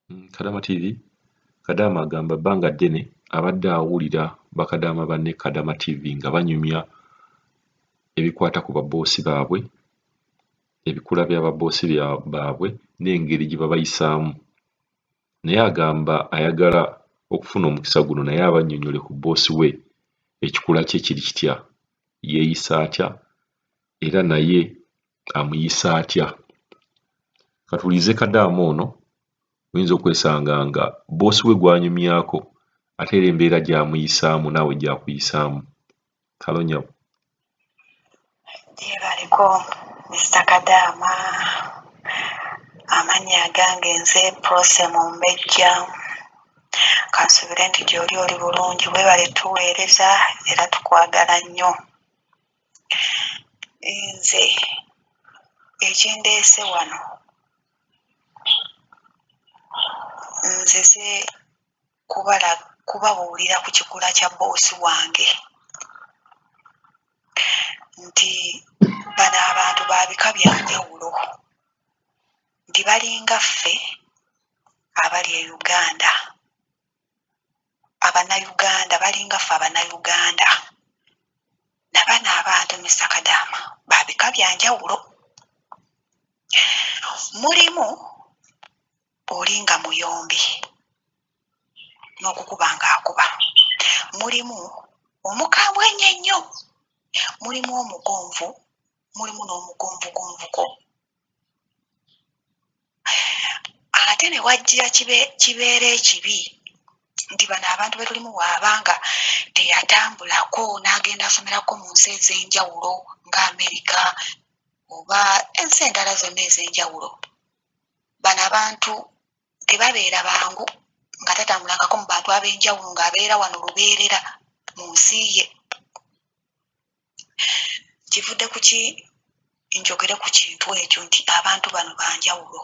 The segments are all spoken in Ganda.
Mm, Kadama TV Kadama agamba bbanga ddene abadde awulira bakadaama banne Kadama TV nga banyumya ebikwata ku baboosi baabwe ebikula bya baboosi baabwe n'engeri gye babayisaamu naye agamba ayagala okufuna omukisa guno naye abannyonnyole ku bboosi we ekikula kye kiri kitya yeeyisa atya era naye amuyisa atya katulize kadaama ono oyinza okwesanga nga boosi we gwanyumyako ate era embeera gyamuyisaamu naawe gyakuyisaamu kalonyabo gyebaliko mista kadaama amannya agange nze prose mumbejja kansubire nti gyoli oli bulungi webale tuweereza era tukwagala nnyo nze ekindeese wano nzize kubala kubabuulira ku kikula kya boosi wange nti bano abantu ba bika bya njawulo nti balinga ffe abali e uganda abanayuganda balinga ffe abanayuganda nabano abantu Mister Kadaama babika byanjawulo mulimu olinga muyombi nokukuba nga akuba mulimu omukambwe enyo enyo mulimu omugonvu mulimu n'omugumbugumbuko ate ne wajjira kibeera ekibi nti bano abantu be tulimu waaba nga teyatambulako n'agenda asomerako mu nsi ez'enjawulo nga amerika oba ensi endala zonna ez'enjawulo bano abantu tebabeera bangu nga tatambulangako mu bantu ab'enjawulo ng'abeera wano lubeerera mu nsi ye kivudde ku ki njogere ku kintu ekyo nti abantu bano banjawulo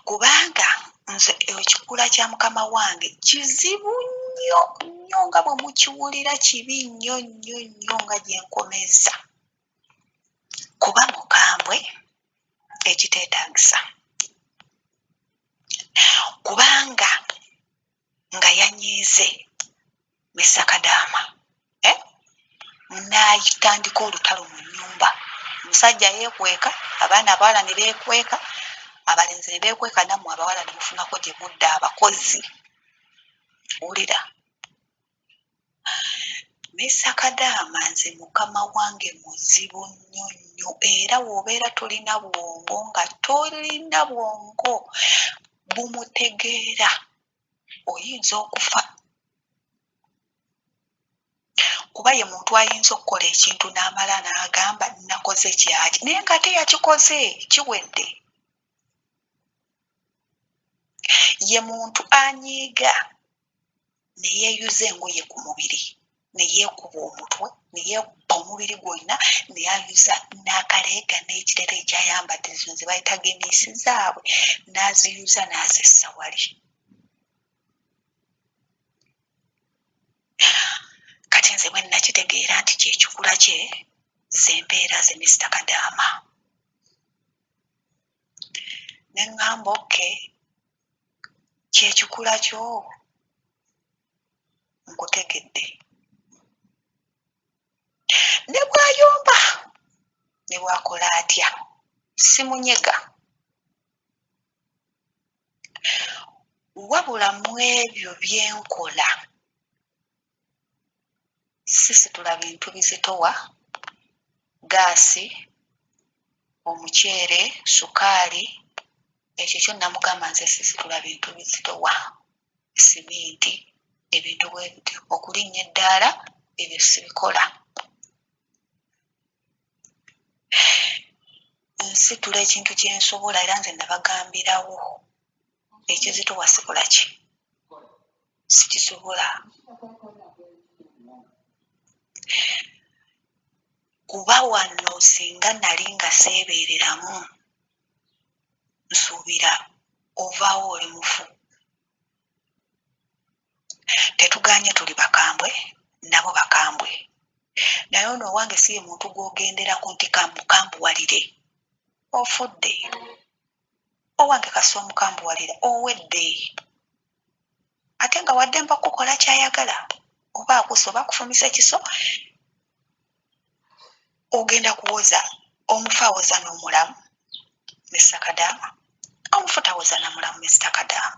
kubanga nze ekikula kya mukama wange kizibu nnyo nnyo nga bwe mukiwulira kibi nnyo nnyo nnyo nga gye nkomezza kuba mukambwe ekiteetaagisa kubanga nga yanyiize ne sakadaama eh? naitandika olutalo mu nyumba omusajja yekweka abaana abawala ne bekweka abalenzi ne bekweka nammwe abawala ne mufunako gye mudda abakozi wulira Mister kadaama nze mukama wange muzibu nnyo nnyo era wobeera tolina bwongo nga tolina bwongo bumutegeera oyinza okufa kuba ye muntu ayinza okukola ekintu namala nagamba nakoze kyaki naye ngate yakikoze kiwedde. ye muntu anyiiga ne yeeyuza engoye ku mubiri ne yeekuba omutwe ne yeekubba omubiri gwonna ne yeeyuza n'akaleega n'ekirala ekyayambadde zino ze bayita gomesi zaabwe n'aziyuza n'azissa wali kati nze bwe nnakitegeera nti kye kikula kye ze mbeera ze misita kadaama ne ŋŋamba oke kye kikula kyo nkutegedde ne bw'ayomba ne bw'akola atya simunyega wabula mu ebyo bye nkola sisitula bintu bizitowa, ggaasi, omuceere, ssukaali ekyo kyo namugamba nze sisitula bintu bizitowa, siminti ebintu bwe bityo okulinnya eddaala ebyo sibikola. Nsitula ekintu kye nsobola era nze nabagambirawo ekizito wasikula ki sikisobola kuba wano singa nali nga seebeereramu nsuubira ovaawo oli mufu tetuganye tuli bakambwe nabo bakambwe naye ono owange si ye muntu gw'ogenderako nti kamukambuwalire ofudde owange kasi omukambuwalira owedde ate nga wadde mba kukola kyayagala oba akusa oba akufumise kiso ogenda kuwoza omufa awoza n'omulamu mr kadaama omufu tawoza namulamu mr kadaama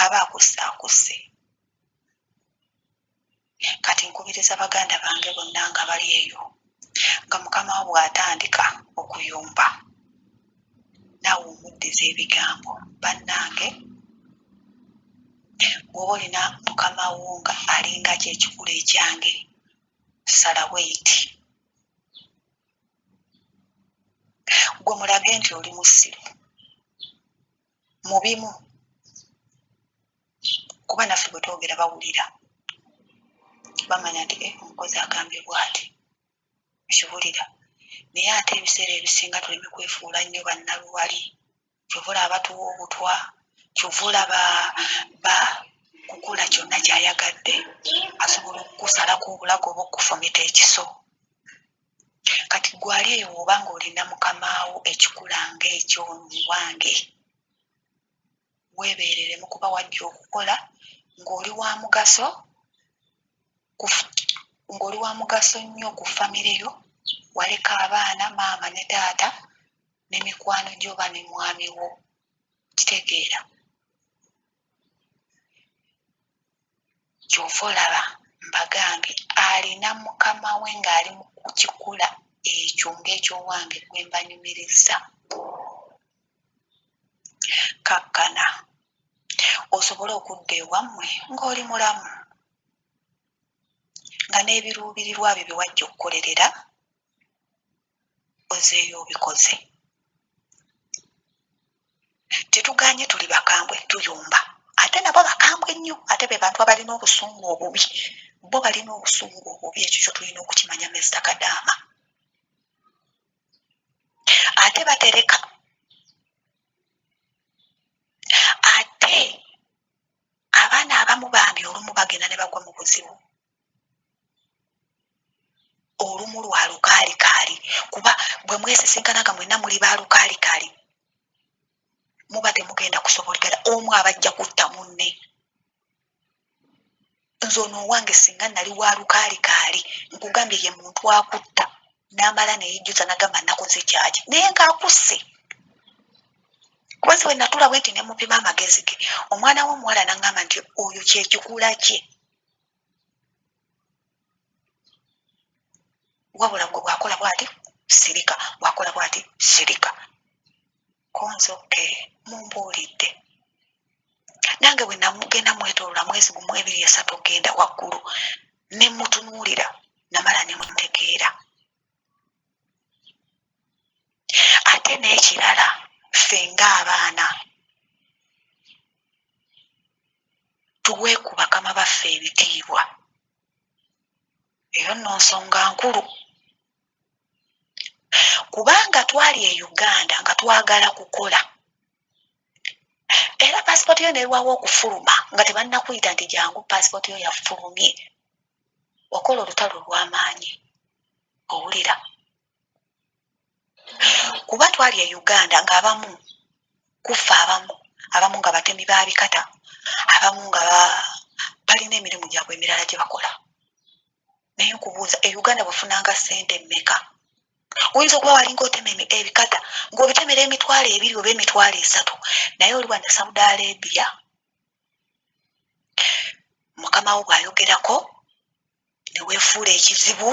aba akusse akusse Kati nkubiriza baganda bange bonna nga bali eyo nga Mukama wo bw'atandika okuyomba, naawe omuddize ebigambo. Bannange! Bw'oba olina Mukama wo nga alinga ki ekikula ekyange, sala weyiti. Ggwe mulage nti oli musiru. mu bimu kuba naffe bwe twogera bawulira bamanya nti eh, omukozi agambye bwati kiwulira naye ate ebiseera ebisinga tuleme kwefuula nnyo bannaluwali kyova olaba tuwa obutwa kyova olaba ba kukola kyonna kyayagadde asobola okukusalako obulago oba okufumita ekiso Kati gwe ali eyo woba nga olina mukamaawo ekikula nga ekyo muwange webereremu kuba wajja okukola ngoli wamugaso ngoli wamugaso nnyo ku famire yo waleka abaana maama ne taata ne mikwano gyoba ne mwami wo kitegeera. kyova olaba mbagambye alina mukama we ngali mukukikula ekyo nga ekyowange gwembanyumiriza kakkana osobole okudda ewammwe ngoli mulamu nga nebirubirirwa byo byewajja okukolerera ozeeyo obikoze tetuganye tuli bakambwe tuyomba ate nabo bakambwe nnyo ate be bantu abalina obusungu obubi bo balina obusungu obubi ekyo kyo tulina okukimanya mista kadaama ate batereka ate abaana abamu bambi olumu bagenda ne bagwa mu buzibu olumu lwa lukaalikaali kuba bwe mwesisinkana nga mwenna muli ba lukaalikaali muba temugenda kusobolikana omu abajja kutta munne nze ono owange singa nali wa lukaalikaali nkugambye ye muntu akutta n'amala neyejjusa nagamba nakoze kyaki naye ngaakusse kubazi wenatula bwenti nemupima amagezi ge omwana womuwala nagamba nti oyo kyekikula kye wabula gwe bwakola bwati sirika bwakola bwati sirika konze oke mumbuulidde nange bwe namugenda mwetolola mwezi gumu ebiri esatu okgenda waggulu ne mutunuulira namala ne mutegeera Ate n'ekirala ffe ng'abaana tuwe ku bakama baffe ebitiibwa, eyo nno nsonga nkulu kubanga twali e Uganda nga twagala kukola era paasipooti yo nerwawo okufuluma nga tebannakuyita nti jangu paasipooti yo yafulumye okola olutalo olw'amaanyi owulira kuba twali e uganda ng'abamu kuffe abamu abamu nga batemi ba bikata abamu nga balina emirimu gyabwe emirala gye bakola naye nkubuuza e uganda wafunanga sente meka oyinza okuba walinga otema ebikata ngaobitemera emitwalo ebiri oba emitwalo esatu naye oli wano saudi arabia mukama wo bwayogerako newefuula ekizibu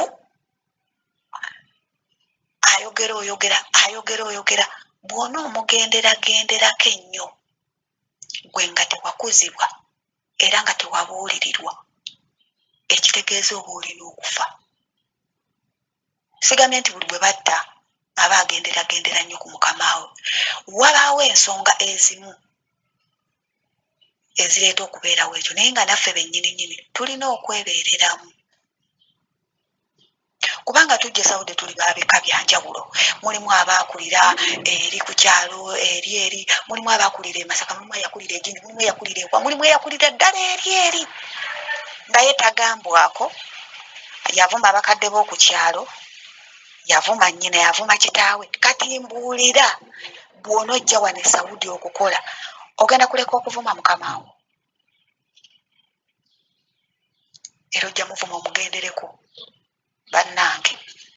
ayogera oyogera ayogera oyogera bwona omugenderagenderako ennyo gwe nga tewakuzibwa era nga tewabuulirirwa ekitegeeza oba olina okufa sigambye nti buli gwe batta aba agenderagendera nnyo ku mukamaawe wabaawo ensonga ezimu ezireeta okubeerawo ekyo naye nga naffe bennyini nyini tulina okwebeereramu kubanga tujja esawudde tuli babika byanjawulo mulimu abaakulira eri ku kyalo eri eri mulimu abaakulira emasaka mulimu eyakulira egindi mulimu eyakulira ewa mulimu eyakulira ddala eri eri naye tagambwako yavuma abakadde b'oku kyalo yavuma nnyina yavuma kitaawe kati mbuulira bw'onojja wano esawudi okukola ogenda kuleka okuvuma mukama wo era ojja muvuma omugendereko bannange.